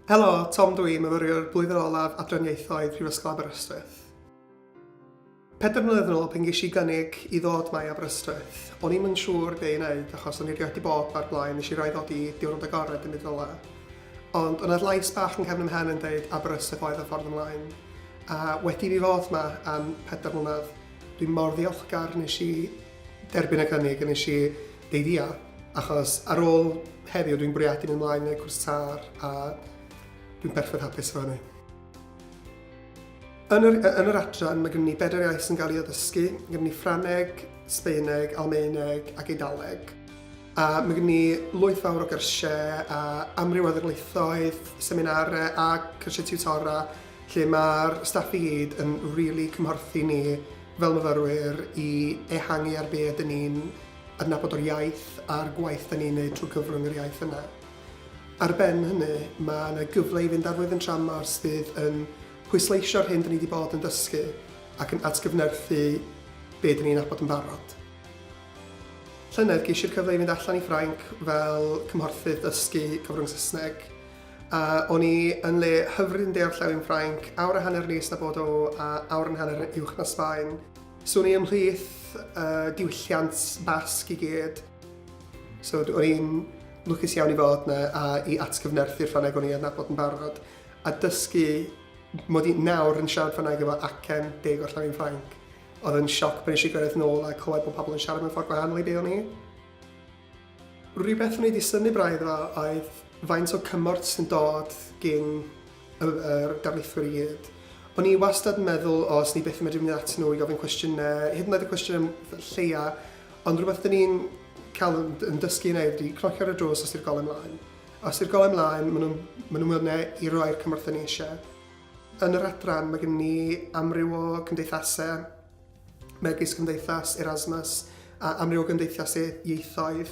Helo, Tom dw i, myfyriwr blwyddyn olaf Adran Ieithoedd Prifysgol Aberystwyth. Pedwar mlynedd yn ôl pan ges i gynnig i ddod mae Aberystwyth, o'n i'm yn siŵr be i wneud achos o'n i rioed wedi bod mae'r blaen, nes i roi ddod i diwrnod agored yn byd rola. Ond o'n na'r lais bach yn cefn ym mhen yn deud Aberystwyth oedd y ffordd ymlaen. A wedi i fi fod mae am pedwar mlynedd, dwi'n mor ddiolchgar nes i derbyn y cynnig a nes i deiddio achos ar ôl heddiw dwi'n bwriadu mynd ymlaen neu cwrs tar a dwi'n perffaith hapus efo hynny. Yn yr, yn yr adran mae gen i bedair iaith sy'n cael ei addysgu, mae gen i Ffraneg, Sbeineg, Almaeneg ac Eidaleg. A mae gen i lwyth fawr o gyrsiau a amryw o ddirlaethoedd, seminarau a cyrsiau tiwtora lle mae'r staff i gyd yn rili really cymhorthu ni fel myfyrwyr i ehangu ar be ydyn ni'n adnabod o'r iaith a'r gwaith da ni'n neud trwy gyfrwng yr iaith yna. Ar ben hynny, mae yna gyfle i fynd ar flwyddyn tramor sydd yn pwysleisio'r hyn da ni wedi bod yn dysgu ac yn atgyfnerthu be da ni'n abod yn barod. Llynedd geishi'r cyfle i fynd allan i Ffrainc fel cymhorthydd dysgu cyfrwng Saesneg. A o'n i yn le hyfryd yn orllewin Ffrainc, awr a hanner nes na Bordeaux a awr yn hanner yn uwch na Sbaen. So o'n i ymhlith uh, diwylliant Basg i gyd. So o'n i'n lwcus iawn i fod yna a i atgyfnerthu'r Ffrangeg o'n i adnabod yn barod a dysgu mod i nawr yn siarad Ffrangeg efo acen deg o'r llawin Ffrainc. Oedd yn sioc pan eisiau gyrraedd nôl a clywed bod pobl yn siarad mewn ffordd gwahanol i be o'n i. Rhywbeth wneud i synnu braidd dda oedd faint o cymorth sy'n dod gin yr darlithwyr i gyd. O'n i wastad yn meddwl, o, os ni byth yn medru mynd at nhw i gofyn cwestiynau, hyd yn oed y cwestiynau lleia, ond rhywbeth dyn ni'n cael yn dysgu yn ei ydy cnocio ar y drws os i'r golau mlaen. Os i'r golau mlaen, maen nhw'n maen nhw mwynhau i roi'r cymorth dyn ni eisiau. Yn yr adran, mae gen ni amryw o cymdeithasau megis Cymdeithas Erasmus a amryw o gymdeithasau ieithoedd,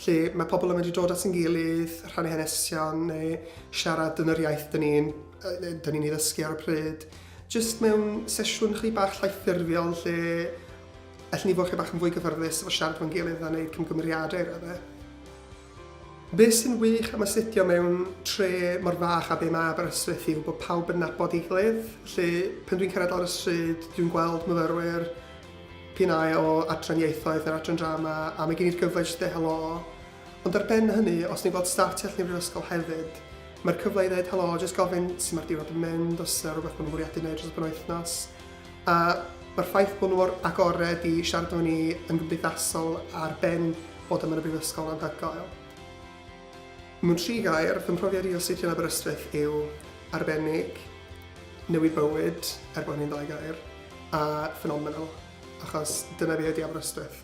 lle mae pobl yn medru dod at yn gilydd, rhannu hanesion neu siarad yn yr iaith dyn ni'n dyn ni'n ei ddysgu ar y pryd. Jyst mewn sesiwn chi bach llai ffurfiol lle allen ni fod chi bach yn fwy gyfyrddus efo siarad fo'n gilydd a wneud cymgymeriadau i raddau. Be sy'n wych am astudio mewn tre mor fach â be mae Aberystwyth yw bod pawb yn nabod ei gilydd. Felly, pan dwi'n cyrraedd lawr y stryd, dwi'n gweld myfyrwyr, p'un ai o adran ieithoedd neu'r adran drama, a mae gen i'r gyfle i jyst deud helo. Ond ar ben hynny, os ni'n gweld staff tu allan i'r brifysgol hefyd, mae'r cyfle i ddeud helo, jyst gofyn sut mae'r diwrnod yn mynd, os yna rhywbeth maen nhw'n fwriadu wneud dros y penwythnos. A mae'r ffaith bod nhw mor agored i siarad efo ni yn gymdeithasol ar ben fod yma yn y Brifysgol yn anhygoel. Mewn tri gair, fy mhrofiad i o astudio yn Aberystwyth yw arbennig, newid bywyd, er bod hynny'n ddau gair, a phenomenal, achos dyna fi ydi Aberystwyth.